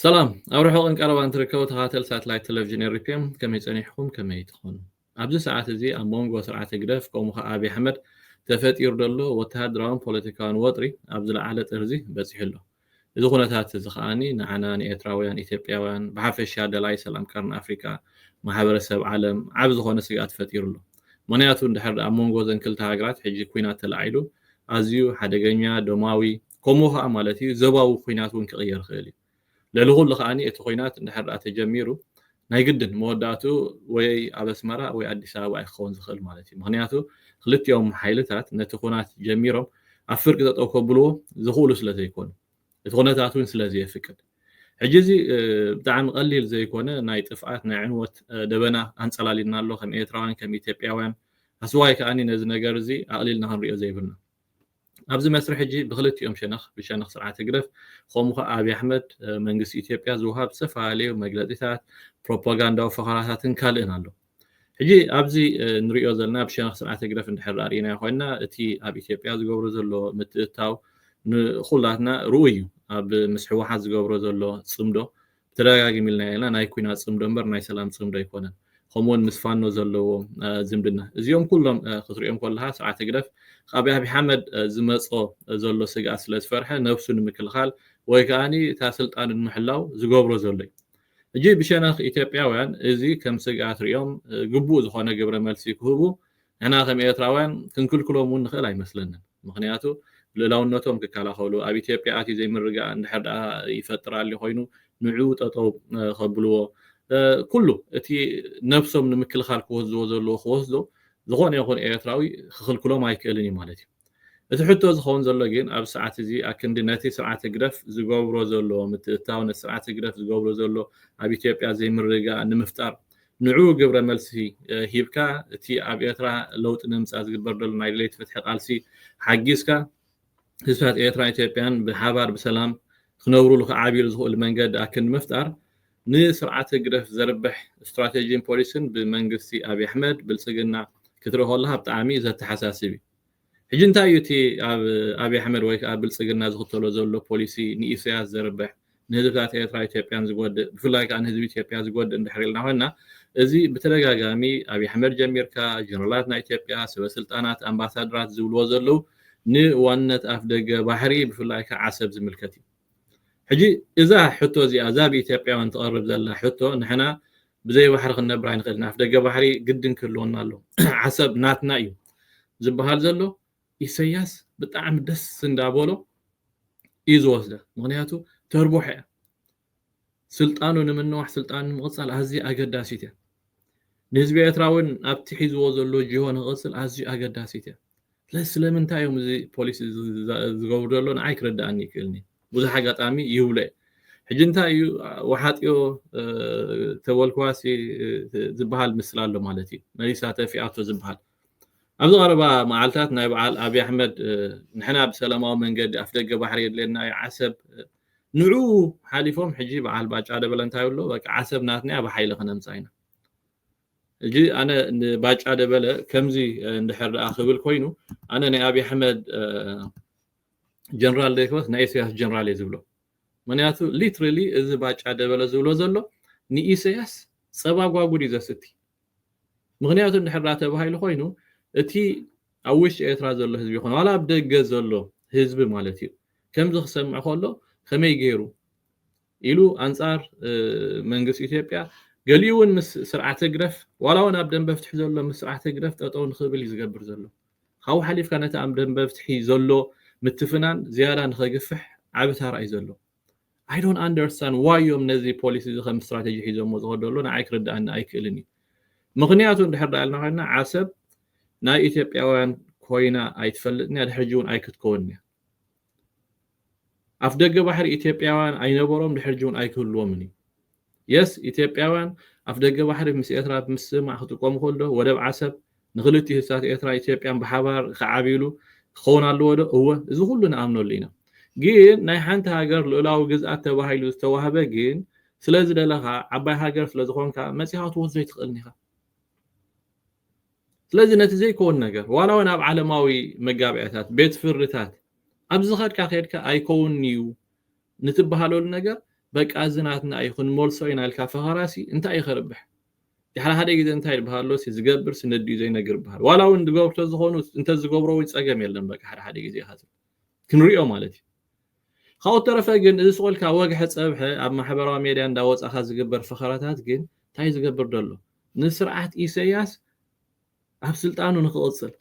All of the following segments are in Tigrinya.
ሰላም ኣብ ርሑቕን ቀረባን ትርከቡ ተኸታተል ሳትላይት ቴሌቭዥን ኤሪፒም ከመይ ጸኒሕኩም ከመይ ትኾኑ ኣብዚ ሰዓት እዚ ኣብ መንጎ ስርዓት ህግደፍ ከምኡ ከዓ ኣብዪ ኣሕመድ ተፈጢሩ ዘሎ ወተሃደራውን ፖለቲካውን ወጥሪ ኣብ ዝለዓለ ጥርዚ በፂሑ ኣሎ እዚ ኩነታት እዚ ከኣ ንዓና ንኤርትራውያን ኢትዮጵያውያን ብሓፈሻ ደላይ ሰላም ቀርኒ ኣፍሪቃ ማሕበረ ሰብ ዓለም ዓቢ ዝኾነ ስግኣት ፈጢሩ ኣሎ። ምኽንያቱ እንድሕር ኣብ መንጎ እዘን ክልተ ሃገራት ሕጂ ኩናት ተላዒሉ ኣዝዩ ሓደገኛ ደማዊ ከምኡ ከኣ ማለት እዩ ዘባዊ ኩናት ውን ክቕየር ይኽእል እዩ። ልዕሊ ኩሉ ከኣ እቲ ኩናት እንድሕር ተጀሚሩ ናይ ግድን መወዳእትኡ ወይ ኣብ ኣስመራ ወይ ኣዲስ ኣበባ እዩ ክኸውን ዝኽእል ማለት እዩ። ምኽንያቱ ክልቲኦም ሓይልታት ነቲ ኹናት ጀሚሮም ኣብ ፍርቂ ጠጠው ከብልዎ ዝኽእሉ ስለ ዘይኮኑ። እቲ ኩነታት እውን ስለ ዘየፍቅድ። ሕጂ እዚ ብጣዕሚ ቀሊል ዘይኮነ ናይ ጥፍኣት ናይ ዕንወት ደበና ኣንጸላልዩና ኣሎ ከም ኤርትራውያን ከም ኢትዮጵያውያን ኣስዋይ ከኣ ነዚ ነገር እዚ ኣቕሊልና ክንሪኦ ዘይብልና። ኣብዚ መስርሕ እዚ ብክልቲኦም ሸነኽ ብሸነኽ ስርዓት ህግደፍ ከምኡ ከኣ ኣብይ ኣሕመድ መንግስቲ ኢትዮጵያ ዝወሃብ ዝተፈላለዩ መግለጺታት ፕሮፓጋንዳዊ ፈኸራታትን ካልእን ኣሎ ሕጂ ኣብዚ ንሪኦ ዘለና ብሸነኽ ስርዓት ህግደፍ እንድሕር ኣርእናዮ ኮይንና እቲ ኣብ ኢትዮጵያ ዝገብሮ ዘሎ ምትእታው ንኹላትና ርኡይ እዩ ኣብ ምስ ሕወሓት ዝገብሮ ዘሎ ጽምዶ ብተደጋጋሚ ኢልናዮ ኢና ናይ ኩናት ጽምዶ እምበር ናይ ሰላም ጽምዶ ኣይኮነን ከምኡውን ምስ ፋኖ ዘለዎ ዝምድና እዚኦም ኩሎም ክትሪኦም ከለካ ስርዓት ህግደፍ ካብ ኣብይ ኣሕመድ ዝመጾ ዘሎ ስግኣት ስለ ዝፈርሐ ነብሱ ንምክልኻል ወይ ከኣ እታ ስልጣኑ ንምሕላው ዝገብሮ ዘሎ እዩ ሕጂ ብሸነኽ ኢትዮጵያውያን እዚ ከም ስግኣት ሪኦም ግቡእ ዝኾነ ግብረ መልሲ ክህቡ ንሕና ከም ኤርትራውያን ክንክልክሎም ውን ንኽእል ኣይመስለንን ምኽንያቱ ልእላውነቶም ክከላኸሉ ኣብ ኢትዮጵያ ኣትዩ ዘይምርግጋእ እንድሕር ድኣ ይፈጥር ኣልዩ ኮይኑ ንዑኡ ጠጠው ከብልዎ ኩሉ እቲ ነብሶም ንምክልኻል ክወስድዎ ዘለዎ ክወስዶ ዝኾነ ይኹን ኤርትራዊ ክኽልክሎም ኣይክእልን ዩ ማለት ዩ። እቲ ሕቶ ዝኸውን ዘሎ ግን ኣብዚ ሰዓት እዚ ኣክንዲ ነቲ ስርዓት ህግደፍ ዝገብሮ ዘሎ ምትእትታው ነቲ ስርዓት ህግደፍ ዝገብሮ ዘሎ ኣብ ኢትዮጵያ ዘይምርግጋእ ንምፍጣር ንዕኡ ግብረ መልሲ ሂብካ እቲ ኣብ ኤርትራ ለውጢ ንምምጻእ ዝግበር ዘሎ ናይ ደለይቲ ፍትሒ ቃልሲ ሓጊዝካ ህዝብታት ኤርትራን ኢትዮጵያን ብሓባር ብሰላም ክነብሩሉ ክዓብዩሉ ዝኽእሉ መንገዲ ኣክንዲ ምፍጣር ንስርዓት ህግደፍ ዘርብሕ ስትራቴጂን ፖሊሲን ብመንግስቲ ኣብይ ኣሕመድ፣ ብልጽግና፣ ክትርኢ ከለኻ ብጣዕሚ እዩ ዘተሓሳስብ እዩ። ሕጂ እንታይ እዩ እቲ ኣብ ኣብይ ኣሕመድ ወይ ከኣ ብልጽግና ዝኽተሎ ዘሎ ፖሊሲ ንኢሰያስ ዘርብሕ፣ ንህዝብታት ኤርትራ ኢትዮጵያን ዝጎድእ፣ ብፍላይ ከኣ ንህዝቢ ኢትዮጵያ ዝጎድእ እንድሕር ኢልና ኮይንና እዚ ብተደጋጋሚ ኣብይ ኣሕመድ ጀሚርካ ጀነራላት ናይ ኢትዮጵያ፣ ሰበ ስልጣናት፣ ኣምባሳድራት ዝብልዎ ዘለዉ ንዋንነት ኣፍደገ ባሕሪ ብፍላይ ከኣ ዓሰብ ዝምልከት እዩ። ሕጂ እዛ ሕቶ እዚኣ እዛ ብኢትዮጵያውያን ትቐርብ ዘላ ሕቶ ንሕና ብዘይ ባሕሪ ክንነብር ኣይንኽእልን፣ ኣፍደገ ባሕሪ ግድን ክህልወና ኣለዎ፣ ዓሰብ ናትና እዩ ዝበሃል ዘሎ ኢሰያስ ብጣዕሚ ደስ እንዳበሎ እዩ ዝወስዳ፣ ምኽንያቱ ተርቦሖ እያ፣ ስልጣኑ ንምንዋሕ ስልጣኑ ንምቕጻል ኣዝያ ኣገዳሲት እያ፣ ንህዝቢ ኤርትራ እውን ኣብቲ ሒዝዎ ዘሎ ጅሆ ንኽቕጽል ኣዝዩ ኣገዳሲት እያ። ስለዚ ስለምንታይ እዮም እዚ ፖሊሲ ዝገብሩ ዘሎ ንዓይ ክርድኣኒ ይክእልኒ ብዙሕ ኣጋጣሚ ይብሎ እየ ሕጂ እንታይ እዩ ወሓጥዮ ተበልክዋሲ ዝበሃል ምስላ ኣሎ ማለት እዩ መሊሳ ተፊኣቶ ዝበሃል ኣብዚ ቀረባ መዓልታት ናይ በዓል ኣብዪ ኣሕመድ ንሕና ብሰላማዊ መንገዲ ኣፍ ደገ ባሕሪ የድልየና እዩ ዓሰብ ንዑ ሓሊፎም ሕጂ በዓል ባጫ ደበለ እንታይ ብሎ በቃ ዓሰብ ናትና እያ ብሓይሊ ክነምፃ ኢና ሕጂ ኣነ ንባጫ ደበለ ከምዚ እንድሕር ደኣ ክብል ኮይኑ ኣነ ናይ ኣብይ ኣሕመድ ጀነራል ዘይኮነስ ናይ ኢሰያስ ጀነራል እየ ዝብሎ ምክንያቱ ሊትራሊ እዚ ባጫ ደበለ ዝብሎ ዘሎ ንኢሰያስ ጸባ ጓጉድ እዩ ዘስቲ ምክንያቱ እንድሕር ደኣ ተባሂሉ ኮይኑ እቲ ኣብ ውሽጢ ኤርትራ ዘሎ ህዝቢ ይኮነ ዋላ ኣብ ደገ ዘሎ ህዝቢ ማለት እዩ ከምዚ ክሰምዕ ከሎ ከመይ ገይሩ ኢሉ ኣንጻር መንግስት ኢትዮጵያ ገሊኡ ውን ምስ ስርዓት ህግደፍ ዋላ ውን ኣብ ደንበ ፍትሒ ዘሎ ምስ ስርዓት ህግደፍ ጠጠው ንክብል እዩ ዝገብር ዘሎ። ካብኡ ሓሊፍካ ነቲ ኣብ ደንበ ፍትሒ ዘሎ ምትፍናን ዝያዳ ንከግፍሕ ዓቢ ታራ እዩ ዘሎ። I don't understand why እዮም ነዚ ፖሊሲ እዚ ከም ስትራተጂ ሒዞሞ ዝኸዱ ዘለዉ ንዓይ ክርድኣኒ ኣይክእልን እዩ። ምኽንያቱ እንድሕር ደኣ ኢልና ኮይንና ዓሰብ ናይ ኢትዮጵያውያን ኮይና ኣይትፈልጥን እያ ድሕሪ ሕጂ ውን ኣይክትከውንን እያ። ኣፍደገ ባሕሪ ኢትዮጵያውያን ኣይነበሮም ድሕርጂ እውን ኣይክህልዎምን እዩ የስ ኢትዮጵያውያን ኣፍደገ ባሕሪ ምስ ኤርትራ ብምስምማዕ ክጥቀሙ ከሎ ወደብ ዓሰብ ንክልቲኡ ህዝብታት ኤርትራ ኢትዮጵያን ብሓባር ክዓብይሉ ክኸውን ኣለዎ ዶ እወ እዚ ኩሉ ንኣምነሉ ኢና ግን ናይ ሓንቲ ሃገር ልኡላዊ ግዝኣት ተባሂሉ ዝተዋህበ ግን ስለዝደለኻ ዓባይ ሃገር ስለዝኾንካ መጺኻ ክትወስዶ ኣይትኽእልን ኢኻ ስለዚ ነቲ ዘይከውን ነገር ዋላ እውን ኣብ ዓለማዊ መጋብያታት ቤት ፍርድታት ኣብ ዝኸድካ ከድካ ኣይከውን እዩ ንትበሃለሉ ነገር በቃ እዚ ናትና እዩ ክንመልሶ ኢና ኢልካ ፈኸራሲ እንታይ እዩ ከርብሕ ድሕሪ ሓደ ግዜ እንታይ ይበሃሎ ሲ ዝገብር ስነድዩ ዘይነግር ይበሃል ዋላ እውን ዝገብሩ ተዝኾኑ እንተዝገብሮ ወይ ፀገም የለን በቃ ሓደ ሓደ ግዜ ኢኻ ክንሪኦ ማለት እዩ ካብኡ ተረፈ ግን እዚ ስቆልካ ወግሐ ፀብሐ ኣብ ማሕበራዊ ሜድያ እንዳወፃኻ ዝግበር ፈኸራታት ግን እንታይ ዝገብር ደሎ ንስርዓት ኢሰያስ ኣብ ስልጣኑ ንክቕጽል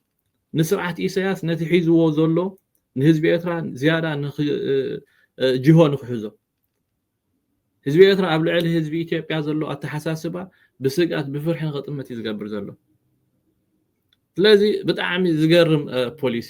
ንስርዓት ኢሰያስ ነቲ ሒዝዎ ዘሎ ንህዝቢ ኤርትራ ዝያዳ ጅሆ ንክሕዞ ህዝቢ ኤርትራ ኣብ ልዕሊ ህዝቢ ኢትዮጵያ ዘሎ ኣተሓሳስባ ብስግኣት ብፍርሒ ንክጥምት እዩ ዝገብር ዘሎ ስለዚ ብጣዕሚ ዝገርም ፖሊሲ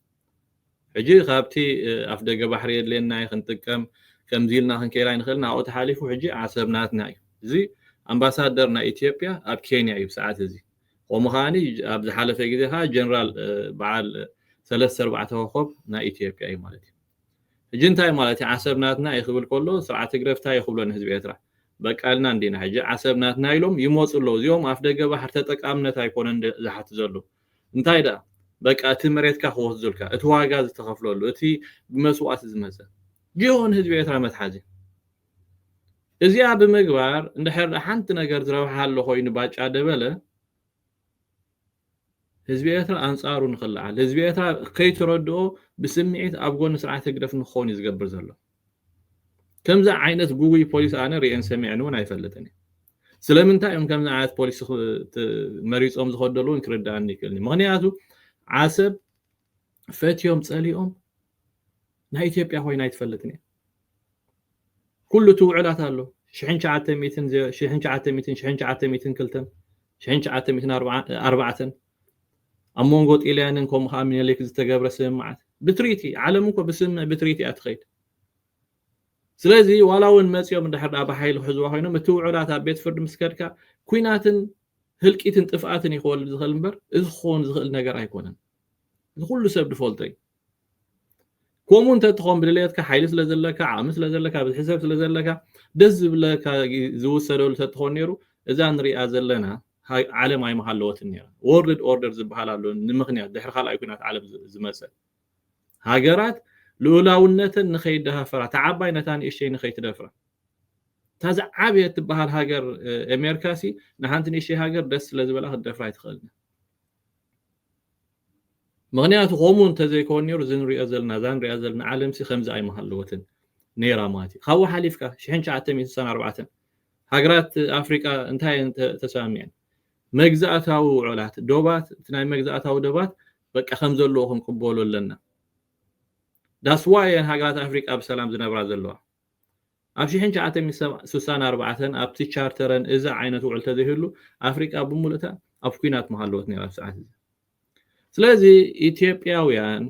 ሕጂ ካብቲ ኣፍደገ ባሕሪ የድልየና እዩ ክንጥቀም ከምዚ ኢልና ክንከይድ ኣይንኽእልን ኣብኡ ተሓሊፉ ሕጂ ዓሰብ ናትና እዩ እዚ ኣምባሳደር ናይ ኢትዮጵያ ኣብ ኬንያ እዩ ብሰዓት እዚ ከምኡ ከዓኒ ኣብ ዝሓለፈ ግዜ ከዓ ጀነራል በዓል ሰለስተ ኣርባዕተ ኮኾብ ናይ ኢትዮጵያ እዩ ማለት እዩ ሕጂ እንታይ ማለት እዩ ዓሰብ ናትና እዩ ክብል ከሎ ስርዓት ትግረ እንታይ እዩ ክብሎ ንህዝቢ ኤርትራ በቃልና እንዲና ሕጂ ዓሰብ ናትና ኢሎም ይመፁ ኣለዉ እዚኦም ኣፍ ደገ ባሕር ተጠቃምነት ኣይኮነን ዝሓት ዘለዉ እንታይ ደኣ በቃ እቲ መሬትካ ክወስዱልካ እቲ ዋጋ ዝተኸፍለሉ እቲ ብመስዋእቲ ዝመጸ ጅሆ ንህዝቢ ኤርትራ መትሓዚ እዚኣ ብምግባር እንድሕር ደኣ ሓንቲ ነገር ዝረብሓ ኣሎ ኮይኑ ባጫ ደበለ ህዝቢ ኤርትራ ኣንጻሩ ንኽለዓል ህዝቢ ኤርትራ ከይተረድኦ ብስምዒት ኣብ ጎኒ ስርዓት ህግደፍ ንክኸውን እዩ ዝገብር ዘሎ ከምዚ ዓይነት ጉጉይ ፖሊሲ ኣነ ሪኤን ሰሚዐን ውን ኣይፈልጥን እየ ስለምንታይ እዮም ከምዚ ዓይነት ፖሊሲ መሪፆም ዝኸዱ ዘለዉ ክርድኣኒ ይክእልኒ ምክንያቱ ዓሰብ ፈትዮም ፀሊኦም ናይ ኢትዮጵያ ኮይና ኣይትፈልጥን እየ ኩሉ እቲ ውዕላት ኣሎ ሽሕን ሸዓተ ሚትን ሽሕን ሸዓተ ሚትን ሽሕን ሸዓተ ሚትን ክልተን ሽሕን ሸዓተ ሚትን ኣርባዕተን ኣብ መንጎ ጢልያንን ከምኡ ከኣ ሚኒሊክ ዝተገብረ ስምምዓት ብትሪቲ ዓለም እኮ ብስምምዕ ብትሪቲ እያ ትኸይድ ስለዚ ዋላ እውን መፂኦም እንድሕር ደኣ ብሓይሊ ክሕዝዋ ኮይኖም እቲ ውዑላት ኣብ ቤት ፍርዲ ምስ ከድካ ኩናትን ህልቂትን ጥፍኣትን እዩ ክወልድ ዝኽእል እምበር እዚ ክኸውን ዝኽእል ነገር ኣይኮነን እዚ ኩሉ ሰብ ዝፈልጦ እዩ ከምኡ እንተትኾን ብድልየትካ ሓይሊ ስለ ዘለካ ዓቕሚ ስለ ዘለካ ብዝሒ ሰብ ስለ ዘለካ ደስ ዝብለካ ዝውሰደሉ ተትኾን ነይሩ እዛ ንሪኣ ዘለና ዓለም ኣይምሃለወትን ነይራ ወርልድ ኦርደር ዝበሃል ኣሎ ንምክንያት ድሕሪ ካልኣይ ኩናት ዓለም ዝመፀ ሃገራት ልኡላውነተን ንኸይደሃፈራ እታ ዓባይ ነታ ንእሽተይ ንኸይትደፍራ እታ ዝዓበየት ትበሃል ሃገር ኣሜሪካ ሲ ንሓንቲ ንእሽተይ ሃገር ደስ ስለ ዝበላ ክትደፍራ ኣይትኽእልን ምኽንያቱ ከምኡ እንተዘይኮን ኔሩ እዚ ንሪኦ ዘለና እዛ ንሪኣ ዘለና ዓለምሲ ከምዚ ኣይምሃለወትን ኔራ ማለት እዩ ካብኡ ሓሊፍካ ሽሕን ትሽዓተ ሚእትን ስሳን ኣርባዕተን ሃገራት ኣፍሪቃ እንታይ እየን ተሰማሚዐን መግዛእታዊ ውዑላት ዶባት እቲ ናይ መግዛእታዊ ዶባት በቃ ከም ዘለዎ ክንቅበሎ ኣለና ዳስ ዋይ እየን ሃገራት ኣፍሪቃ ብሰላም ዝነብራ ዘለዋ ኣብ ሽሕን ትሽዓተ ሚእትን ስሳን ኣርባዕተን ኣብቲ ቻርተረን እዚ ዓይነት ውዕል ተዘይህሉ ኣፍሪቃ ብሙሉእታ ኣብ ኩናት ምሃለወት ነይራ ኣብቲ ሰዓት እዚ። ስለዚ ኢትዮጵያውያን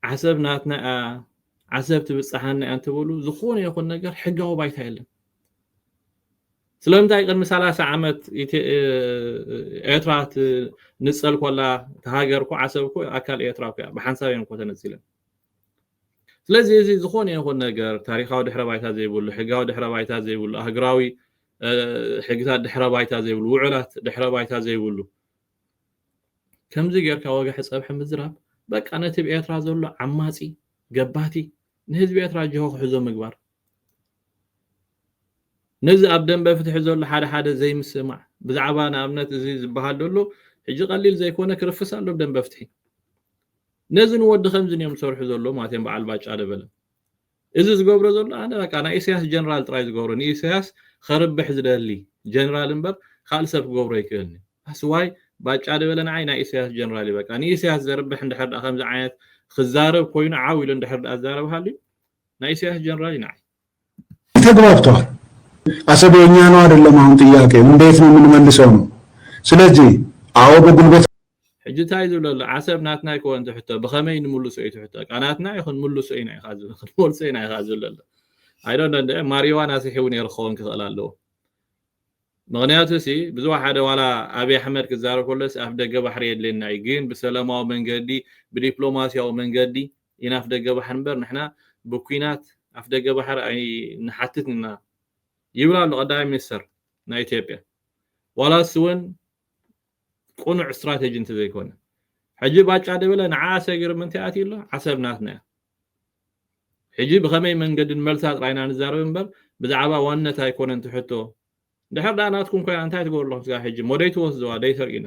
ዓሰብ ናትና እያ ዓሰብ ትብጽሓና እያ እንትብሉ ዝኾነ ይኹን ነገር ሕጋዊ ባይታ የለን። ስለምንታይ ቅድሚ ሰላሳ ዓመት ኤርትራ ንጸል ኮላ ሃገር እኮ ዓሰብ እኮ ኣካል ኤርትራ እኮ እያ ብሓንሳብ እየን እኮ ተነጺለን። ስለዚ እዚ ዝኾነ ይኹን ነገር ታሪኻዊ ድሕረ ባይታ ዘይብሉ፣ ሕጋዊ ድሕረ ባይታ ዘይብሉ፣ ኣህግራዊ ሕግታት ድሕረ ባይታ ዘይብሉ፣ ውዑላት ድሕረ ባይታ ዘይብሉ ከምዚ ጌርካ ወግሐ ጸብሐ ምዝራብ በቃ ነቲ ብ ኤርትራ ዘሎ ዓማጺ ገባቲ ንህዝቢ ኤርትራ ጅሆ ክሕዞ ምግባር ነዚ ኣብ ደንበ ፍትሒ ዘሎ ሓደ ሓደ ዘይምስማዕ ብዛዕባ ንኣብነት እዚ ዝበሃል ዘሎ ሕጂ ቀሊል ዘይኮነ ክርፍስ ኣሎ ደንበ ፍትሒ ነዚ ንወዲ ከምዝን እዮም ዝሰርሑ ዘለዉ ማለት እዮም በዓል ባጫ ደበለ እዚ ዝገብሮ ዘሎ ኣነ በቃ ናይ ኢሰያስ ጀነራል ጥራይ ዝገብሮ ንኢሰያስ ኸርብሕ ዝደሊ ጀነራል እምበር ካልእ ሰብ ክገብሮ ኣይክእልን ኣስዋይ ባጫ ደበለ ንዓይ ናይ ኢሰያስ ጀነራል እዩ በቃ ንኢሰያስ ዘርብሕ እንድሕር ከምዚ ዓይነት ክዛረብ ኮይኑ ዓው ኢሉ እንድሕር ዛረብ ሃልዩ ናይ ኢሰያስ ጀነራል እዩ ንዓይ ተግባብተዋል አሰብ የኛ ነው አይደለም አሁን ጥያቄው እንዴት ነው የምንመልሰው ነው ስለዚህ አዎ በጉልበት ሕጂ እንታይ እዩ ዝብሎ ኣሎ ዓሰብ ናትና ይኮን ትሕቶ ብኸመይ ንምልሶ እዩ ትሕቶ ቃ ናትና እዩ ክንምልሶ ኢና ኢኻ ዝብል ክንመልሶ ኢና ኢኻ ዝብል ኣሎ ኣይዶ እንደ ማሪዋን ኣስሒቡ ነይሩ ክኸውን ክኽእል ኣለዎ ምክንያቱ ሲ ብዙ ሓደ ዋላ ኣብዪ ኣሕመድ ክዛረብ ከሎስ ኣፍ ደገ ባሕሪ የድልየና እዩ ግን ብሰላማዊ መንገዲ ብዲፕሎማስያዊ መንገዲ ኢና ኣፍደገ ባሕሪ እምበር ንሕና ብኲናት ኣፍደገ ባሕሪ ኣይንሓትትን ኢና ይብል ኣሎ ቀዳማይ ሚኒስተር ናይ ኢትዮጵያ ዋላ ንሱ እውን ቁኑዕ ስትራቴጂ እንተዘይኮነ ሕጂ ባጫ ደበለ ንዓ ሰጊሩ ምንታይ ኣትዩ ኣሎ ዓሰብ ናትና እያ ሕጂ ብኸመይ መንገዲ ንመልሳ ጥራይ ኢና ንዛረብ እምበር ብዛዕባ ዋንነት ኣይኮነን ትሕቶ ድሕር ደኣ ናትኩም ኮይና እንታይ ትገብሩ ኣለኹም ስጋ ሕጂ ሞደይ ትወስድዋ ደይሰርቂና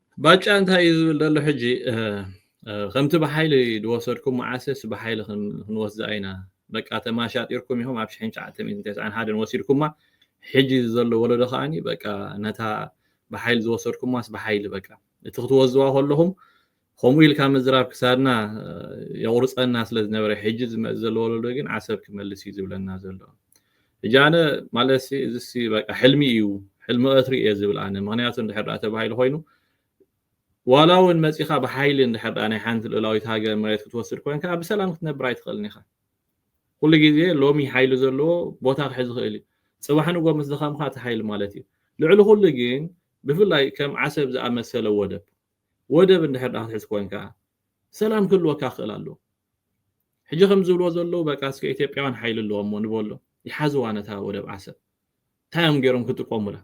ባጫ እንታይ እዩ ዝብል ዘሎ ሕጂ ከምቲ ብሓይሊ ዝወሰድኩም መዓሰስ ብሓይሊ ክንወስዳ ኢና በቃ ተማሻጢርኩም ኢኹም ኣብ ሽሕን ትሽዓተ ሚእትን ተስዓን ሓደን ወሲድኩማ ሕጂ ዘሎ ወለዶ ከዓኒ በቃ ነታ ብሓይሊ ዝወሰድኩማስ ብሓይሊ በቃ እቲ ክትወስድዋ ከለኹም ከምኡ ኢልካ ምዝራብ ክሳድና የቑርፀና ስለ ዝነበረ ሕጂ ዝመፅ ዘሎ ወለዶ ግን ዓሰብ ክመልስ እዩ ዝብለና ዘሎ ሕጂ ኣነ ማለትሲ እዚሲ በቃ ሕልሚ እዩ ሕልሚ ቀትሪ እየ ዝብል ኣነ ምክንያቱ እንድሕር ደኣ ተባሂሉ ኮይኑ ዋላ እውን መፂኻ ብሓይሊ እንድሕር ደኣ ናይ ሓንቲ ልእላዊት ሃገር መሬት ክትወስድ ኮንካ ብሰላም ክትነብር ኣይትኽእልን ኢኻ ኩሉ ግዜ ሎሚ ሓይሊ ዘለዎ ቦታ ክሕዝ ይኽእል እዩ ፅባሕ ንጎ ምስ ደኸምካ እቲ ሓይሊ ማለት እዩ ልዕሊ ኩሉ ግን ብፍላይ ከም ዓሰብ ዝኣመሰለ ወደብ ወደብ እንድሕር ክትሕዝ ኮንካ ሰላም ክህልወካ ክኽእል ኣለዎ ሕጂ ከም ዝብልዎ ዘለዉ በቃ እስከ ኢትዮጵያውያን ሓይሊ ኣለዎም እሞ ንበሎም ይሓዝዋ ነታ ወደብ ዓሰብ እንታይ እዮም ገይሮም ክጥቀሙላ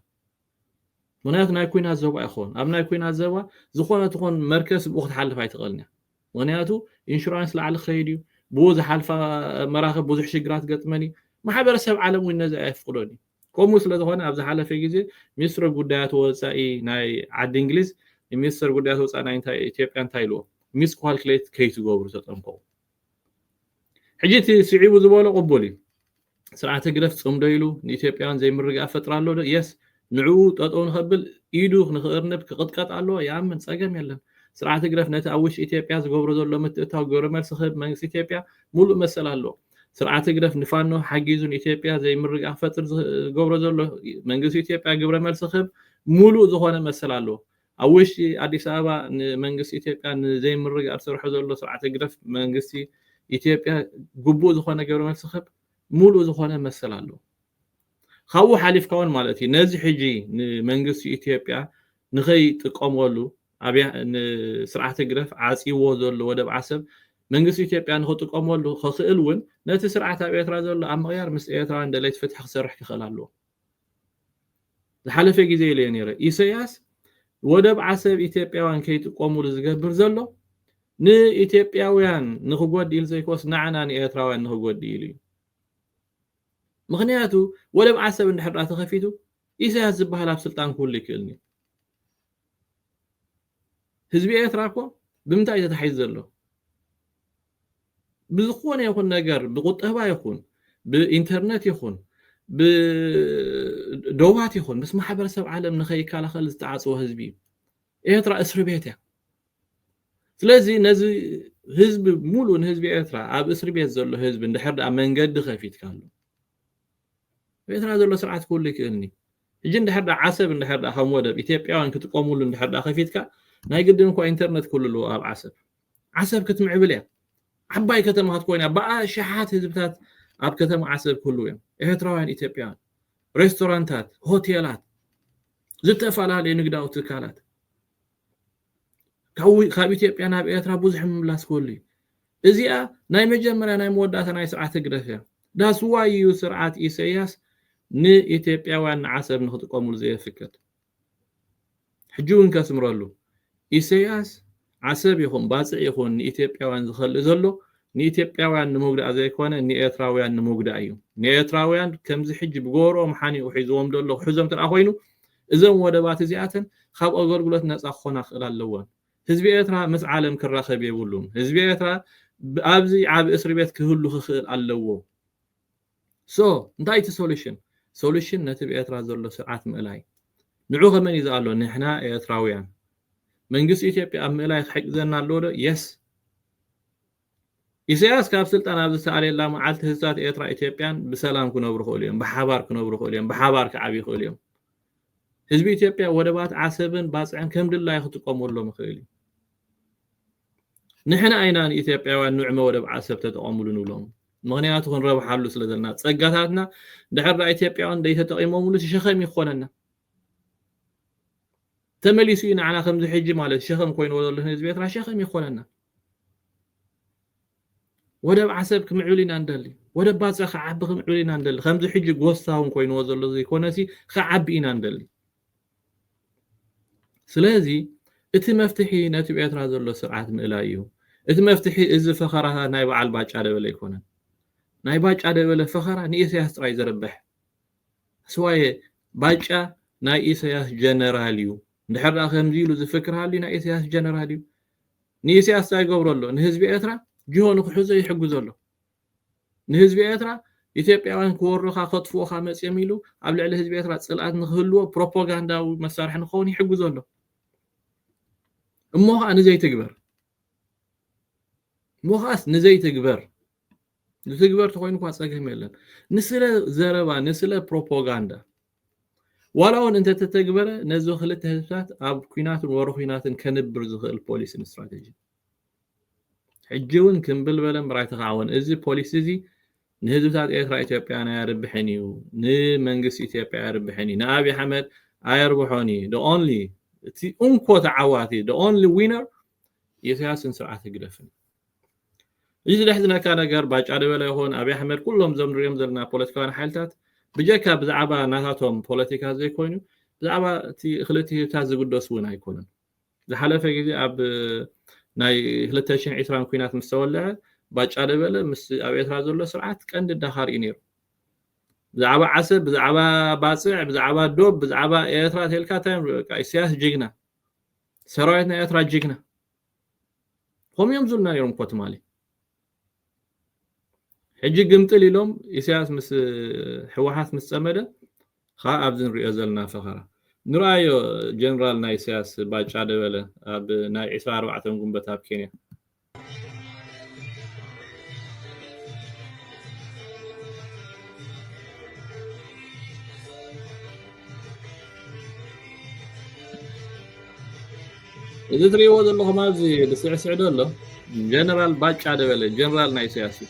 ምክንያቱ ናይ ኩናት ዘባ ይኸውን ኣብ ናይ ኩናት ዘባ ዝኾነ ትኾን መርከስ ብኡ ክትሓልፍ ኣይትኽእልን እያ ምክንያቱ ኢንሹራንስ ላዕሊ ክኸይድ እዩ ብኡ ዝሓልፋ መራኽብ ብዙሕ ሽግራት ገጥመን እዩ ማሕበረሰብ ዓለም እውን ነዚ ኣየፍቅዶን እዩ ከምኡ ስለ ዝኾነ ኣብ ዝሓለፈ ግዜ ሚኒስትሪ ጉዳያት ወጻኢ ናይ ዓዲ እንግሊዝ ንሚኒስተር ጉዳያት ወጻኢ ናይ ኢትዮጵያ እንታይ ኢልዎ ሚስ ኳልክሌት ከይትገብሩ ተጠንቀቑ ሕጂ እቲ ስዒቡ ዝበሎ ቅቡል እዩ ስርዓት ህግደፍ ጽምዶ ኢሉ ንኢትዮጵያውያን ዘይምርግኣ ፈጥራ ኣሎ ዶ የስ ንዕኡ ጠጠው ንኸብል ኢዱ ንክእርንብ ክቕጥቀጥ ኣለዎ ይኣምን ጸገም የለን ስርዓት ህግደፍ ነቲ ኣብ ውሽጢ ኢትዮጵያ ዝገብሮ ዘሎ ምትእታው ግብረ መልሲ ክህብ መንግስቲ ኢትዮጵያ ሙሉእ መሰል ኣለዎ ስርዓት ህግደፍ ንፋኖ ሓጊዙ ንኢትዮጵያ ዘይምርግጋእ ክፈጥር ዝገብሮ ዘሎ መንግስቲ ኢትዮጵያ ግብረ መልሲ ክህብ ሙሉእ ዝኾነ መሰል ኣለዎ። ኣብ ውሽጢ ኣዲስ ኣበባ ንመንግስቲ ኢትዮጵያ ንዘይምርግጋእ ዝሰርሖ ዘሎ ስርዓት ህግደፍ መንግስቲ ኢትዮጵያ ግቡእ ዝኾነ ግብረ መልሲ ክህብ ሙሉእ ዝኾነ መሰል ኣለዎ። ካብኡ ሓሊፍካ ውን ማለት እዩ ነዚ ሕጂ ንመንግስቲ ኢትዮጵያ ንኸይጥቀመሉ ኣብያ ንስርዓት ህግደፍ ዓጽይዎ ዘሎ ወደብ ዓሰብ መንግስቲ ኢትዮጵያ ንኽጥቀመሉ ከኽእል ውን ነቲ ስርዓት ኣብ ኤርትራ ዘሎ ኣብ ምቕያር ምስ ኤርትራውያን ደለይቲ ፍትሒ ክሰርሕ ክኽእል ኣለዎ። ዝሓለፈ ግዜ ኢለዮ ነይረ ኢሰያስ ወደብ ዓሰብ ኢትዮጵያውያን ከይጥቀሙሉ ዝገብር ዘሎ ንኢትዮጵያውያን ንኽጎድእ ኢሉ ዘይኮስ ንዓና ንኤርትራውያን ንኽጎድእ ኢሉ እዩ። ምኽንያቱ ወደብ ዓሰብ እንድሕር ድኣ ተኸፊቱ ኢሳያስ ዝብሃል ኣብ ስልጣን ክህሉ ኣይክእልን'ዩ። ህዝቢ ኤርትራ እኮ ብምንታይ'ዩ ተታሒዙ ዘሎ? ብዝኾነ ይኹን ነገር ብቁጠባ ይኹን ብኢንተርነት ይኹን ብዶባት ይኹን ምስ ማሕበረሰብ ዓለም ንኸይከላኸል ዝተዓጽወ ህዝቢ'ዩ። ኤርትራ እስርቤት'ያ። ስለዚ ነዚ ህዝቢ ሙሉእ ንህዝቢ ኤርትራ ኣብ እስሪ ቤት ዘሎ ህዝቢ እንድሕር ደኣ መንገዲ ከፊትካሉ ኣብ ኤርትራ ዘሎ ስርዓት ክህሉ ይክእልኒ ሕጂ እንድሕር ደኣ ዓሰብ እንድሕር ደኣ ከም ወደብ ኢትዮጵያውያን ክጥቀሙሉ እንድሕር ደኣ ከፊትካ ናይ ግድን እኳ ኢንተርነት ክህሉ ኣለዎ ኣብ ዓሰብ ዓሰብ ክትምዕብል እያ ዓባይ ከተማ ክትኮይን እያ ብኣሽሓት ህዝብታት ኣብ ከተማ ዓሰብ ክህልው እዮም ኤርትራውያን ኢትዮጵያውያን ሬስቶራንታት ሆቴላት ዝተፈላለዩ ንግዳዊ ትካላት ካብ ካብ ኢትዮጵያ ናብ ኤርትራ ብዙሕ ምምላስ ክህሉ እዩ እዚኣ ናይ መጀመርያ ናይ መወዳእታ ናይ ስርዓት ህግደፍ እያ ዳስዋይ እዩ ስርዓት ኢሰያስ ንኢትዮጵያውያን ንዓሰብ ንክጥቀሙሉ ዘየፍቅድ ሕጂ እውን ከስምረሉ ኢሰያስ ዓሰብ ይኹን ባጽዕ ይኹን ንኢትዮጵያውያን ዝኸልእ ዘሎ ንኢትዮጵያውያን ንምጉዳእ ዘይኮነ ንኤርትራውያን ንምጉዳእ እዩ ንኤርትራውያን ከምዚ ሕጂ ብጎሮኦም ሓኒቑ ሒዝዎም ዘሎ ክሕዞም ተደኣ ኮይኑ እዘን ወደባት እዚኣተን ካብ ኣገልግሎት ነጻ ክኾና ክኽእላ ኣለወን። ህዝቢ ኤርትራ ምስ ዓለም ክራኸብ የብሉን። ህዝቢ ኤርትራ ኣብዚ ዓቢ እስርቤት ክህሉ ክኽእል ኣለዎ። So እንታይ እቲ solution? Solution ነቲ ብ ኤርትራ ዘሎ ስርዓት ምእላይ። ንዑ ከመን እዩ ዝኣሎ? ንሕና ኤርትራውያን። መንግስቲ ኢትዮጵያ ኣብ ምእላይ ክሕግዘና ኣለዎ ዶ? Yes። ኢሰያስ ካብ ስልጣን ኣብ ዝሰኣለላ መዓልቲ ህዝብታት ኤርትራ ኢትዮጵያን ብሰላም ክነብሩ ይኽእሉ እዮም፣ ብሓባር ክነብሩ ይኽእሉ እዮም፣ ብሓባር ክዓብዩ ይኽእሉ እዮም። ህዝቢ ኢትዮጵያ ወደባት ዓሰብን ባጽዕን ከም ድላዩ ክጥቀመሎም ይኽእል እዩ። ንሕና ኢና ንኢትዮጵያውያን ንዕመ ወደብ ዓሰብ ተጠቐምሉ ንብሎም። ምክንያቱ ክንረብሓሉ ስለ ዘለና ጸጋታትና ድሕር ዳ ኢትዮጵያውያን ደይተጠቒሞምሉ ሸኸም እዩ ክኾነና ተመሊሱ እዩ ንዓና ከምዚ ሕጂ ማለት ሸኸም ኮይንዎ ዘሎ ህዝቢ ኤርትራ ሸኸም ይኾነና ወደብ ዓሰብ ክምዕብል ኢና ንደሊ ወደብ ባጽዕ ክዓቢ ክምዕብል ኢና ንደሊ ከምዚ ሕጂ ጎስታውን ኮይንዎ ዘሎ ዘይኮነሲ ክዓቢ ኢና ንደሊ ስለዚ እቲ መፍትሒ ነቲ ኤርትራ ዘሎ ስርዓት ምእላይ እዩ እቲ መፍትሒ እዚ ፈኸራታ ናይ በዓል ባጫ ደበለ ኣይኮነን ናይ ባጫ ደበለ ፈኸራ ንኢሳያስ ጥራይ ዘርብሕ ስዋየ ባጫ ናይ ኢሳያስ ጀነራል እዩ እንድሕር ከምዚ ኢሉ ዝፍክር ሃልዩ ናይ ኢሳያስ ጀነራል እዩ ንኢሰያስ ታይ ይገብሮ ኣሎ ንህዝቢ ኤርትራ ጅሆ ንክሕዞ ይሕግዞ ኣሎ ንህዝቢ ኤርትራ ኢትዮጵያውያን ክወሩኻ ከጥፍኡኻ መጽዮም ኢሉ ኣብ ልዕሊ ህዝቢ ኤርትራ ጽልኣት ንክህልዎ ፕሮፖጋንዳዊ መሳርሒ ንክኸውን ይሕግዞ ኣሎ እሞ ኸኣ ንዘይትግበር እሞ ኸኣስ ንዘይትግበር ዝትግበር ተኮይኑ እኳ ጸገም የለን ንስለ ዘረባ ንስለ ፕሮፓጋንዳ ዋላ እውን እንተተተግበረ ነዚ ክልተ ህዝብታት ኣብ ኩናትን ወረ ኩናትን ከንብር ዝኽእል ፖሊሲን ስትራቴጂ ሕጂ እውን ክምብል በለ እምበር ኣይተኻዕወን እዚ ፖሊሲ እዚ ንህዝብታት ኤርትራ ኢትዮጵያን ኣየርብሕን እዩ ንመንግስቲ ኢትዮጵያ ኣየርብሕን እዩ ንኣብዪ ኣሕመድ ኣየርብሖን እዩ ኦንሊ እቲ እንኮ ተዓዋቲ ኦንሊ ዊነር ኢሰያስን ስርዓት ህግደፍን እዚ ዘሕዝነካ ነገር ባጫ ደበለ ይኹን ኣብይ ኣሕመድ ኩሎም እዞም ንሪኦም ዘለና ፖለቲካውያን ሓይልታት ብጀካ ብዛዕባ ናታቶም ፖለቲካ ዘይኮይኑ ብዛዕባ እቲ ክልተ ህዝብታት ዝግደሱ እውን ኣይኮኑን ዝሓለፈ ግዜ ኣብ ናይ 220 ኩናት ምስ ተወልዐ ባጫ ደበለ ምስ ኣብ ኤርትራ ዘሎ ስርዓት ቀንዲ ዳኻር እዩ ነይሩ ብዛዕባ ዓሰብ ብዛዕባ ባፅዕ ብዛዕባ ዶብ ብዛዕባ ኤርትራ ተልካ እንታይ በቃ ኢሳያስ ጅግና ሰራዊት ናይ ኤርትራ ጅግና ከምኡ እዮም ዝብሉና ነይሮም እኮ ትማሊ ሕጂ ግምጥል ኢሎም ኢሳያስ ምስ ሕወሓት ምስ ጸመደ ከዓ ኣብዚ ንሪኦ ዘለና ፈኸራ ንርኣዮ ጀነራል ናይ ኢሳያስ ባጫ ደበለ ኣብ ናይ 24 ጉንበት ኣብ ኬንያ እዚ ትሪእዎ ዘለኹም ኣብዚ ዝስዕስዕ ዘሎ ጀነራል ባጫ ደበለ ጀነራል ናይ ኢሳያስ እዩ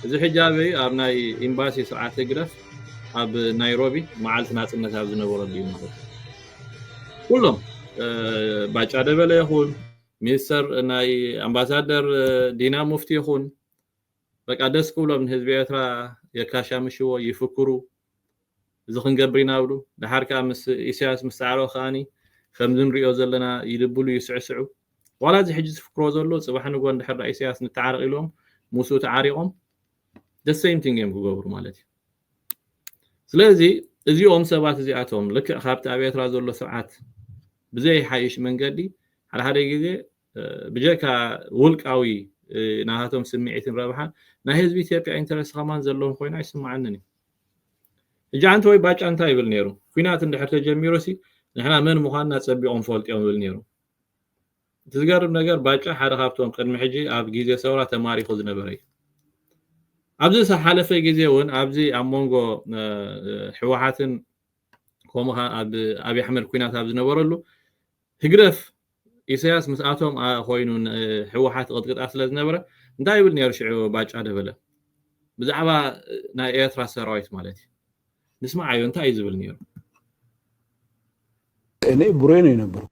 እዚ ሕጂ ኣበይ ኣብ ናይ ኤምባሲ ስርዓት ህግደፍ ኣብ ናይሮቢ መዓልቲ ናፅነት ኣብ ዝነበረሉ እዩ ማለት ኩሎም ባጫ ደበለ ይኹን ሚንስተር ናይ ኣምባሳደር ዲና ሙፍቲ ይኹን በቃ ደስ ክብሎም ንህዝቢ ኤርትራ የካሻምሽዎ ይፍክሩ እዚ ክንገብር ኢና ብሉ ደሓር ከኣ ምስ ኢሳያስ ምስ ጻዕረኦ ከኣኒ ከምዚ ንሪኦ ዘለና ይድብሉ ይስዕስዑ ዋላ እዚ ሕጂ ዝፍክሮ ዘሎ ጽባሕ ንጎ እንድሕር ኢሳያስ ንተዓረቕ ኢሎም ምስኡ ተዓሪቖም the same thing እዮም ክገብሩ ማለት እዩ ስለዚ እዚኦም ሰባት እዚኣቶም ልክዕ ካብቲ ኣብ ኤርትራ ዘሎ ስርዓት ብዘይሓይሽ መንገዲ ሓደ ሓደ ግዜ ብጀካ ውልቃዊ ናታቶም ስምዒትን ረብሓን ናይ ህዝቢ ኢትዮጵያ ኢንተረስ ከማን ዘለዎም ኮይኑ ኣይስምዓንን እዩ ሕጂ ኣንተ ወይ ባጫ እንታይ ይብል ነይሩ ኩናት እንድሕር ተጀሚሩሲ ንሕና መን ምዃንና ጸቢቖም ፈልጥዮም ይብል ነይሩ እቲ ዝገርም ነገር ባጫ ሓደ ካብቶም ቅድሚ ሕጂ ኣብ ግዜ ሰውራ ተማሪኹ ዝነበረ እዩ። ኣብዚ ዝሓለፈ ግዜ ውን ኣብዚ ኣብ ሞንጎ ሕወሓትን ከምኡ ከኣ ኣብ ኣብይ ኣሕመድ ኩናት ኣብ ዝነበረሉ ህግደፍ ኢሰያስ ምስኣቶም ኮይኑ ሕወሓት ይቕጥቅጣ ስለ ዝነበረ እንታይ ይብል ነይሩ ሽዑ ባጫ ደበለ ብዛዕባ ናይ ኤርትራ ሰራዊት ማለት እዩ ንስምዓዮ እንታይ እዩ ዝብል ነይሩ እኔ ቡሬ ነው የነበርኩት።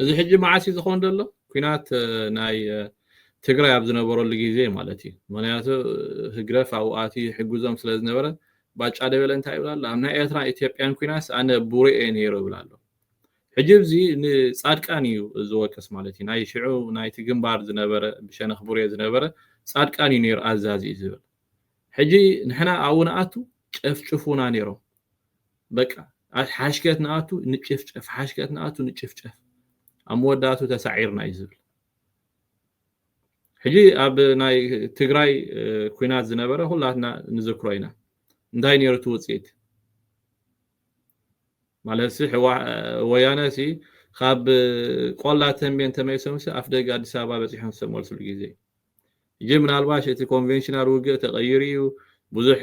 እዚ ሕጂ መዓስ እዩ ዝኸውን ዘሎ ኩናት ናይ ትግራይ ኣብ ዝነበረሉ ግዜ ማለት እዩ ምክንያቱ ህግደፍ ኣብኡ ኣትዩ ይሕግዞም ስለ ዝነበረ ባጫ ደበለ እንታይ ይብል ኣሎ ኣብ ናይ ኤርትራን ኢትዮጵያን ኩናስ ኣነ ቡሬ እየ ነይሩ ይብል ኣሎ ሕጂ እዚ ንጻድቃን እዩ ዝወቅስ ማለት እዩ ናይ ሽዑ ናይቲ ግንባር ዝነበረ ብሸነኽ ቡሬ ዝነበረ ጻድቃን እዩ ነይሩ ኣዛዚ እዩ ዝብል ሕጂ ንሕና ኣብኡ ንኣቱ ጨፍጭፉና ነይሮም በቃ ኣት ሓሽከት ንኣቱ ንጭፍጨፍ ሓሽከት ንኣቱ ንጭፍጨፍ ኣብ መወዳእቱ ተሳዒርና እዩ ዝብል ሕጂ ኣብ ናይ ትግራይ ኩናት ዝነበረ ኩላትና ንዝክሮ ኢና እንታይ ነይሩ እቲ ውፅኢት ማለት ሲ ወያነ ሲ ካብ ቆላ ተንቤን ተመሊሶም ሲ ኣፍ ደገ ኣዲስ ኣበባ በፂሖም ዝተመልስሉ ግዜ እዩ ሕጂ ምናልባሽ እቲ ኮንቨንሽናል ውግእ ተቐይሩ እዩ ብዙሕ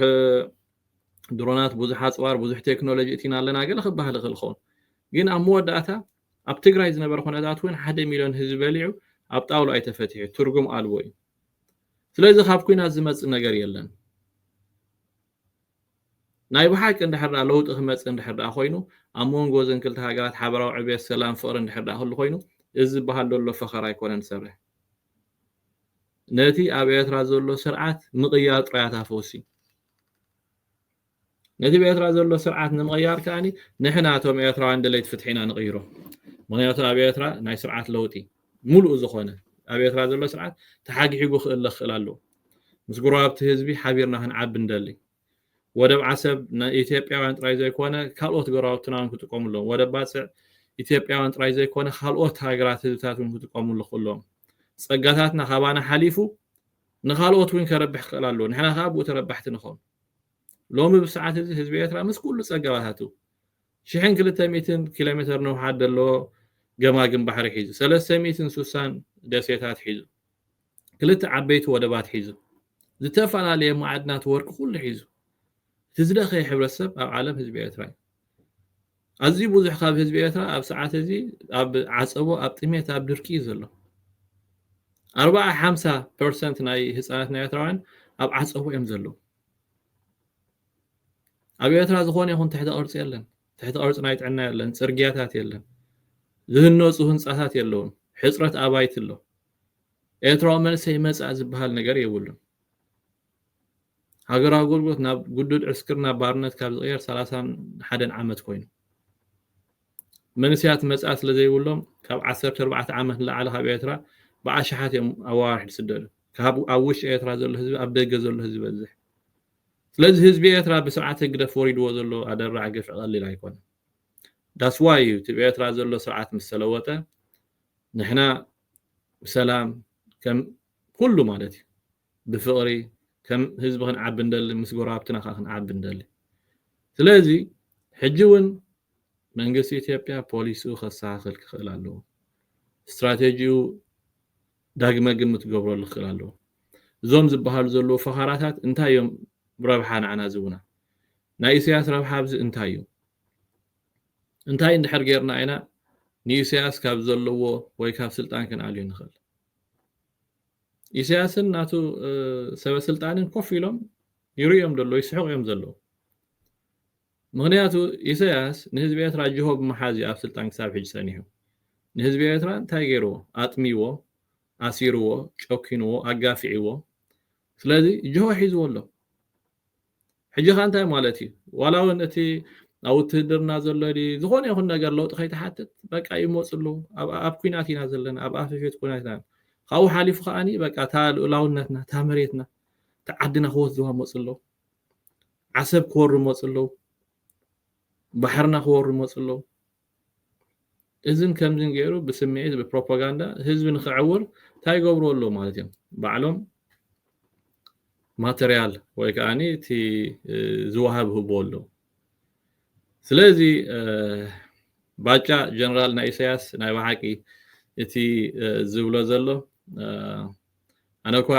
ድሮናት ብዙሕ ኣጽዋር ብዙሕ ቴክኖሎጂ እቲና ኣለና ገለ ክበሃል ይኽእል ክኸውን ግን ኣብ መወዳእታ ኣብ ትግራይ ዝነበረ ኩነታት እውን ሓደ ሚልዮን ህዝቢ በሊዑ ኣብ ጣውላ እዩ ተፈቲሑ ትርጉም ኣልቦ እዩ ስለዚ ካብ ኩናት ዝመፅእ ነገር የለን ናይ ብሓቂ እንድሕር ዳ ለውጢ ክመፅእ እንድሕር ዳ ኮይኑ ኣብ መንጎ እዘን ክልተ ሃገራት ሓበራዊ ዕብየት ሰላም ፍቕሪ እንድሕር ዳ ክህሉ ኮይኑ እዚ ዝበሃል ዘሎ ፈኸራ ኣይኮነን ዝሰርሕ ነቲ ኣብ ኤርትራ ዘሎ ስርዓት ምቕያር ጥራያት ኣፈውሲ ነቲ ብኤርትራ ዘሎ ስርዓት ንምቕያር ከኣ ንሕና እቶም ኤርትራውያን ደለይቲ ፍትሒ ኢና ንቕይሮ ምክንያቱ ኣብ ኤርትራ ናይ ስርዓት ለውጢ ሙሉእ ዝኾነ ኣብ ኤርትራ ዘሎ ስርዓት ተሓግሒጉ ክእለ ክኽእል ኣለዎ ምስ ጉረባብቲ ህዝቢ ሓቢርና ክንዓቢ ንደሊ ወደብ ዓሰብ ናይ ኢትዮጵያውያን ጥራይ ዘይኮነ ካልኦት ጎረባብትና እውን ክጥቀሙ ኣለዎም ወደብ ባጽዕ ኢትዮጵያውያን ጥራይ ዘይኮነ ካልኦት ሃገራት ህዝብታት እውን ክጥቀሙሉ ክእሎም ጸጋታትና ካባና ሓሊፉ ንኻልኦት እውን ከረብሕ ክኽእል ኣለዎ። ንሕና ከኣ ብኡ ተረባሕቲ ንኾን። ሎሚ ብሰዓት እዚ ህዝቢ ኤርትራ ምስ ኩሉ ጸገባታቱ፣ ሽሕን ክልተ ሚእትን ኪሎሜተር ንውሓት ደለዎ ገማግም ባሕሪ ሒዙ፣ ሰለስተ ሚእትን ሱሳን ደሴታት ሒዙ፣ ክልተ ዓበይቲ ወደባት ሒዙ፣ ዝተፈላለየ መዓድናት ወርቂ ኩሉ ሒዙ፣ እቲ ዝደኸየ ሕብረተሰብ ኣብ ዓለም ህዝቢ ኤርትራ እዩ። ኣዝዩ ብዙሕ ካብ ህዝቢ ኤርትራ ኣብ ሰዓት እዚ ኣብ ዓጸቦ ኣብ ጥሜት ኣብ ድርቂ እዩ ዘሎ ኣርባዓ ሓምሳ ፐርሰንት ናይ ህጻናት ናይ ኤርትራውያን ኣብ ዓጸቦ እዮም ዘለዉ ኣብ ኤርትራ ዝኾነ ይኹን ትሕተ ቅርጺ የለን ትሕተ ቅርጺ ናይ ጥዕና የለን ጽርግያታት የለን ዝህነጹ ህንጻታት የለውን ሕጽረት ኣባይቲ ኣሎ ኤርትራዊ መንሰይ መጻእ ዝበሃል ነገር የብሉን ሃገራዊ ኣገልግሎት ናብ ግዱድ ዕስክር ናብ ባርነት ካብ ዝቕየር ሰላሳን ሓደን ዓመት ኮይኑ። መንሰያት መጻኢ ስለ ዘይብሎም ካብ ዓሰርተ ኣርባዕተ ዓመት ንላዕሊ ካብ ኤርትራ ብኣሽሓት እዮም ኣዋርሕ ዝስደዱ። ካብ ኣብ ውሽጢ ኤርትራ ዘሎ ህዝቢ ኣብ ደገ ዘሎ ህዝቢ ይበዝሕ። ስለዚ ህዝቢ ኤርትራ ብስርዓት ህግደፍ ወሪድዎ ዘሎ ኣደራዕ ግፍዒ ቀሊል ኣይኮነን። That's why እዩ እቲ ብ ኤርትራ ዘሎ ስርዓት ምስ ተለወጠ ንሕና ብሰላም ከም ኩሉ ማለት እዩ ብፍቅሪ ከም ህዝቢ ክንዓቢ ንደሊ ምስ ጎረባብትና ከኣ ክንዓቢ ንደሊ ስለዚ ሕጂ ውን መንግስቲ ኢትዮጵያ ፖሊስኡ ከስተካክል ክክእል ኣለዎ ስትራቴጂኡ ዳግመ ግምት ክገብረሉ ክክእል ኣለዎ እዞም ዝበሃሉ ዘለዉ ፈኸራታት እንታይ እዮም ረብሓ ንዓና ዝህቡና ናይ ኢሰያስ ረብሓ ኣብዚ እንታይ እዩ እንታይ እንድሕር ጌርና ኢና ንኢሰያስ ካብ ዘለዎ ወይ ካብ ስልጣን ክንኣልዩ ንክእል ኢሰያስን ናቱ ሰበ ስልጣንን ኮፍ ኢሎም ይርእዮም ደሎ ይስሕቁ እዮም ዘለዉ ምክንያቱ ኢሰያስ ንህዝቢ ኤርትራ ጅሆ ብምሓዝ እዩ ኣብ ስልጣን ክሳብ ሕጂ ጸኒሑ ንህዝቢ ኤርትራ እንታይ ገይርዎ ኣጥሚዎ ኣሲርዎ ጨኪንዎ ኣጋፊዕዎ ስለዚ ጅሆ ሒዝዎ ኣሎ ሕጂ ከኣ እንታይ ማለት እዩ ዋላ ውን እቲ ኣብ ውትህድርና ዘሎ ድዩ ዝኾነ ይኹን ነገር ለውጢ ከይትሓትት በቃ ይመፁ ኣለዉ ኣብ ኩናት ኢና ዘለና ኣብ ኣፈፌት ኩናት ኢና ካብኡ ሓሊፉ ከኣኒ በቃ እታ ልኡላውነትና እታ መሬትና እታ ዓድና ክወስድዋ መፁ ኣለዉ ዓሰብ ክወሩ መፁ ኣለዉ ባሕርና ክወሩ መፁ ኣለዉ እዝን ከምዝን ገይሩ ብስምዒት ብፕሮፓጋንዳ ህዝቢ ንክዕውር እንታይ ይገብርዎ ኣለዉ ማለት እዮም ባዕሎም ማተርያል ወይ ከዓ እቲ ዝወሃብ ህብዎ ኣለዉ ስለዚ ባጫ ጀነራል ናይ ኢሳያስ ናይ ብሓቂ እቲ ዝብሎ ዘሎ ኣነ እኳ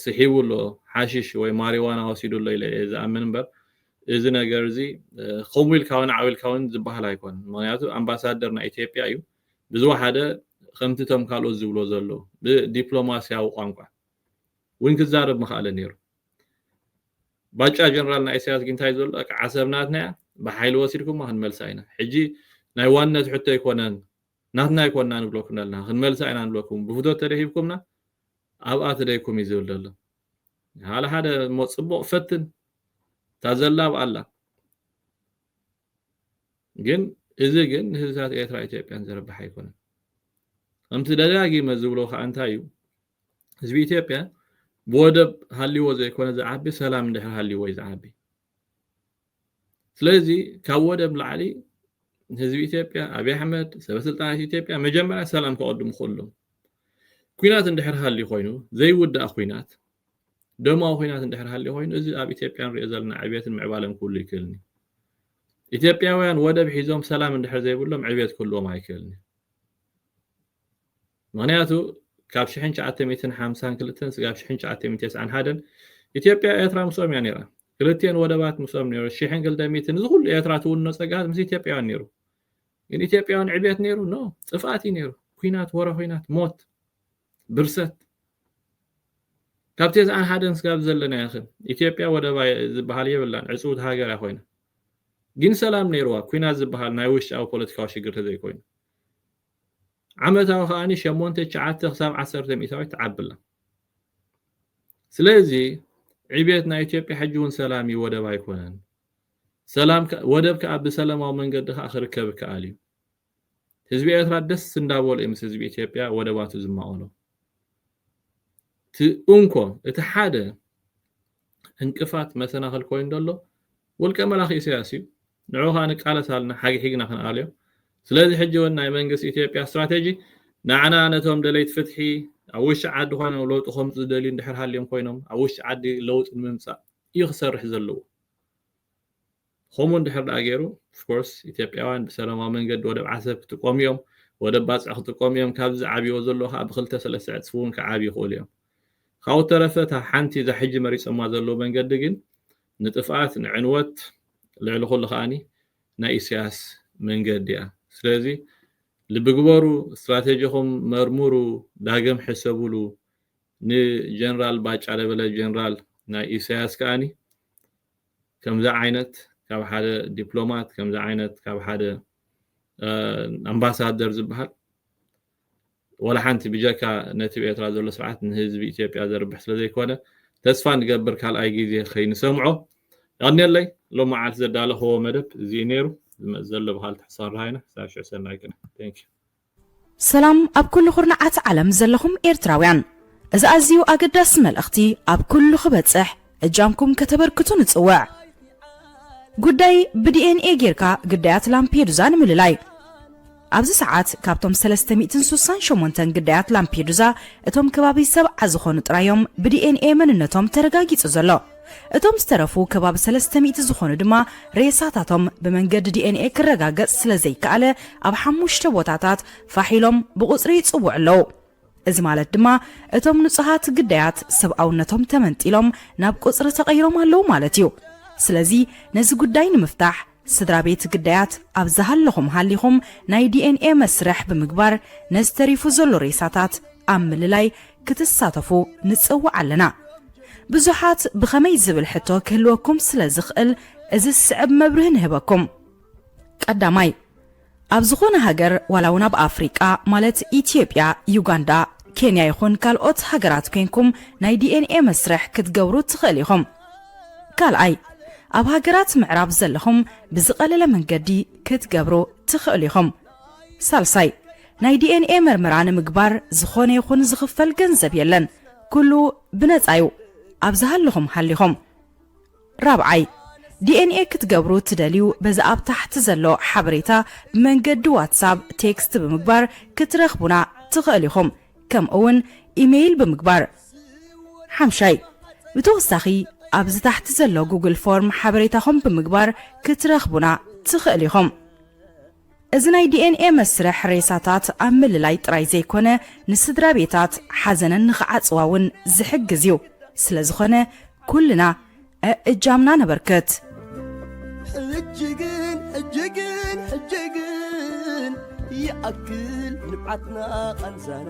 ስሒቡ ኣሎ ሓሽሽ ወይ ማሪዋና ወሲዱ ኣሎ ኢለ እየ ዝኣምን እምበር እዚ ነገር እዚ ከምኡ ኢልካ እውን ዓው ኢልካ እውን ዝበሃል ኣይኮነን ምክንያቱ ኣምባሳደር ናይ ኢትዮጵያ እዩ ብዝወሓደ ከምቲ እቶም ካልኦት ዝብሎ ዘለዉ ብዲፕሎማስያዊ ቋንቋ እውን ክዛረብ ምክኣለ ነይሩ ባጫ ጀነራል ናይ ኢሳያስ ግን እንታይ ዘሎ ዓሰብ ናትና እያ ብሓይሊ ወሲድኩማ ክንመልሳ ኢና ሕጂ ናይ ዋንነት ሕቶ ኣይኮነን ናትና ኣይኮንና ንብለኩም ደለና ክንመልሳ ኢና ንብለኩም ብፍቶት ተደሂብኩምና ኣብኣ ትደይኩም እዩ ዝብል ደሎ ሓደ ሓደ እሞ ጽቡቕ ፈትን እታ ዘላ ኣብኣ ኣላ ግን እዚ ግን ንህዝብታት ኤርትራ ኢትዮጵያን ዘረብሕ ኣይኮነን ከምቲ ደጋጊመ ዝብሎ ከዓ እንታይ እዩ ህዝቢ ኢትዮጵያ ብወደብ ሃልይዎ ዘይኮነ ዝዓቢ ሰላም እንድሕር ሃልይዎ እዩ ዝዓቢ ስለዚ ካብ ወደብ ላዕሊ ህዝቢ ኢትዮጵያ ኣብይ ኣሕመድ ሰበስልጣናት ኢትዮጵያ መጀመርያ ሰላም ከቐድሙ ከሎም ኩናት እንድሕር ሃልዩ ኮይኑ ዘይውዳእ ኩናት ደማዊ ኩናት እንድሕር ሃልዩ ኮይኑ እዚ ኣብ ኢትዮጵያ ንሪኦ ዘለና ዕብየትን ምዕባለን ክህሉ ይክእልኒ ኢትዮጵያውያን ወደብ ሒዞም ሰላም እንድሕር ዘይብሎም ዕብየት ክህልዎም ኣይክእልኒ ምኽንያቱ ካብ ሽሕን ትሽዓተ ሚእትን ሓምሳን ክልተን ስጋብ ሽሕን ትሽዓተ ሚእትን ተስዓን ሓደን ኢትዮጵያ ኤርትራ ምስኦም እያ ነይራ። ክልቲኤን ወደባት ምስኦም ነይሩ። ሽሕን ክልተ ሚእትን እዚ ኩሉ ኤርትራ ትውንኖ ጸጋታት ምስ ኢትዮጵያውያን ነይሩ። ግን ኢትዮጵያውያን ዕብየት ነይሩ? ኖ ጥፍኣት እዩ ነይሩ። ኩናት፣ ወረ ኩናት፣ ሞት፣ ብርሰት ካብ ቴስዓን ሓደን ስጋብ ዘለናዮ ኸ ኢትዮጵያ ወደባ ዝበሃል የብላን ዕፅውቲ ሃገር እያ ኮይና ግን ሰላም ነይርዋ ኩናት ዝበሃል ናይ ውሽጣዊ ፖለቲካዊ ሽግር ተዘይኮይኑ ዓመታዊ ከኣ ሸሞንተ ትሽዓተ ክሳብ ዓሰርተ ሚእታዊት ትዓቢ ኣላ። ስለዚ ዕብየት ናይ ኢትዮጵያ ሕጂ እውን ሰላም እዩ ወደብ ኣይኮነን። ሰላም ወደብ ከኣ ብሰለማዊ መንገዲ ከኣ ክርከብ ይከኣል እዩ። ህዝቢ ኤርትራ ደስ እንዳበሎ እዩ ምስ ህዝቢ ኢትዮጵያ ወደባቱ ዝማቐሎ። እቲ እንኮ እቲ ሓደ እንቅፋት መሰናኽል ኮይኑ ዘሎ ውልቀ መላኺ ኢሳያስ እዩ። ንዑ ከኣ ንቃለስ ኣልና ሓጊሒግና ክንኣልዮ ስለዚ ሕጂ ውን ናይ መንግስት ኢትዮጵያ ስትራተጂ ናዕና ነቶም ደለይቲ ፍትሒ ኣብ ውሽጢ ዓዲ ኮይኖም ለውጢ ከምጹ ዝደልዩ እንድሕር ሃልዮም ኮይኖም ኣብ ውሽጢ ዓዲ ለውጢ ንምምጻእ እዩ ክሰርሕ ዘለዎ ከምኡ እንድሕር ደኣ ገይሩ of course ኢትዮጵያውያን ብሰላማዊ መንገዲ ወደብ ዓሰብ ክጥቀሙ እዮም ወደብ ባጽዕ ክጥቀሙ እዮም ካብዚ ዝዓብይዎ ዘለዉ ከኣ ብክልተ ሰለስተ ዕጽፊ እውን ክዓብዩ ይኽእሉ እዮም ካብኡ ተረፈ እታ ሓንቲ እዛ ሕጂ መሪጾማ ዘለዉ መንገዲ ግን ንጥፍኣት ንዕንወት ልዕሊ ኩሉ ከኣ ናይ ኢሰያስ መንገዲ እያ ስለዚ ልቢ ግበሩ ስትራተጂኹም መርምሩ ዳግም ሕሰብሉ ን ጀነራል ባጫ ደበለ ጀነራል ናይ ኢሰያስ ከኣ ከምዚ ዓይነት ካብ ሓደ ዲፕሎማት ከምዚ ዓይነት ካብ ሓደ ኣምባሳደር ዝብሃል ዋላ ሓንቲ ብጀካ ነቲ ብ ኤርትራ ዘሎ ስርዓት ንህዝቢ ኢትዮጵያ ዘርብሕ ስለ ዘይኮነ ተስፋ ንገብር ካልኣይ ግዜ ከይንሰምዖ። የቐንየለይ ሎሚ መዓልቲ ዘዳለኽዎ መደብ እዚ እዩ ነይሩ። ዝመጽእ ዘሎ ብኻልእ ትሕሳርራ ኢና። ክሳብ ሽዑ ሰናይ ቅነ። Thank you። ሰላም ኣብ ኩሉ ኩርናዓት ዓለም ዘለኹም ኤርትራውያን እዚ ኣዝዩ ኣገዳሲ መልእኽቲ ኣብ ኩሉ ክበጽሕ እጃምኩም ከተበርክቱ ንጽውዕ። ጉዳይ ብዲኤንኤ ጌርካ ግዳያት ላምፔዱዛ ንምልላይ። ኣብዚ ሰዓት ካብቶም ሰለስተ ሚእትን ሱሳን ሸሞንተን ግዳያት ላምፔዱዛ እቶም ከባቢ ሰብዓ ዝኾኑ ጥራይ እዮም ብዲኤንኤ መንነቶም ተረጋጊጹ ዘሎ። እቶም ዝተረፉ ከባቢ ሰለስተ ሚእቲ ዝኾኑ ድማ ሬሳታቶም ብመንገዲ ዲኤንኤ ክረጋገጽ ስለዘይከኣለ ኣብ ሓሙሽተ ቦታታት ፋሕ ኢሎም ብቑጽሪ ይጽውዑ ኣለዉ። እዚ ማለት ድማ እቶም ንጹሃት ግዳያት ሰብኣውነቶም ተመንጢሎም ናብ ቁጽሪ ተቐይሮም ኣለዉ ማለት እዩ። ስለዚ ነዚ ጉዳይ ንምፍታሕ ስድራቤት ግዳያት ኣብ ዝሃለኹም ሃሊኹም ናይ DNA መስርሕ ብምግባር ነዚ ተሪፉ ዘሎ ሬሳታት ኣብ ምልላይ ክትሳተፉ ንጽውዕ ኣለና። ብዙሓት ብኸመይ ዝብል ሕቶ ክህልወኩም ስለ ዝኽእል እዚ ዝስዕብ መብርሂ ንህበኩም። ቀዳማይ፣ ኣብ ዝኾነ ሃገር ዋላ ውን ኣብ ኣፍሪቃ ማለት ኢትዮጵያ ዩጋንዳ ኬንያ ይኹን ካልኦት ሃገራት ኮንኩም ናይ DNA መስርሕ ክትገብሩ ትኽእል ኢኹም ካልኣይ ኣብ ሃገራት ምዕራብ ዘለኹም ብዝቐለለ መንገዲ ክትገብሩ ትኽእሉ ኢኹም ሳልሳይ ናይ DNA መርመራ ንምግባር ዝኾነ ይኹን ዝኽፈል ገንዘብ የለን ኩሉ ብነጻ ዩ ኣብ ዝሃለኹም ሃሊኹም ራብዓይ፣ DNA ክትገብሩ ትደልዩ በዚ ኣብ ታሕቲ ዘሎ ሓበሬታ ብመንገዲ ዋትሳብ ቴክስት ብምግባር ክትረኽቡና ትኸእሉ ኢኹም ከምኡ እውን ኢመይል ብምግባር። ሓምሻይ፣ ብተወሳኺ ኣብዚ ታሕቲ ዘሎ ጉግል ፎርም ሓበሬታኹም ብምግባር ክትረኽቡና ትኸእሉ ኢኹም። እዚ ናይ ዲኤንኤ መስርሕ ሬሳታት ኣብ ምልላይ ጥራይ ዘይኮነ ንስድራቤታት ሓዘነን ንኽዓጽዋ እውን ዝሕግዝ እዩ። ስለዝኾነ ኩልና እእጃምና ነበርክት። ሕጂ ግን ሕጂ ግን ሕጂ ግን ይኣክል ንብዓትና ቃንዛና።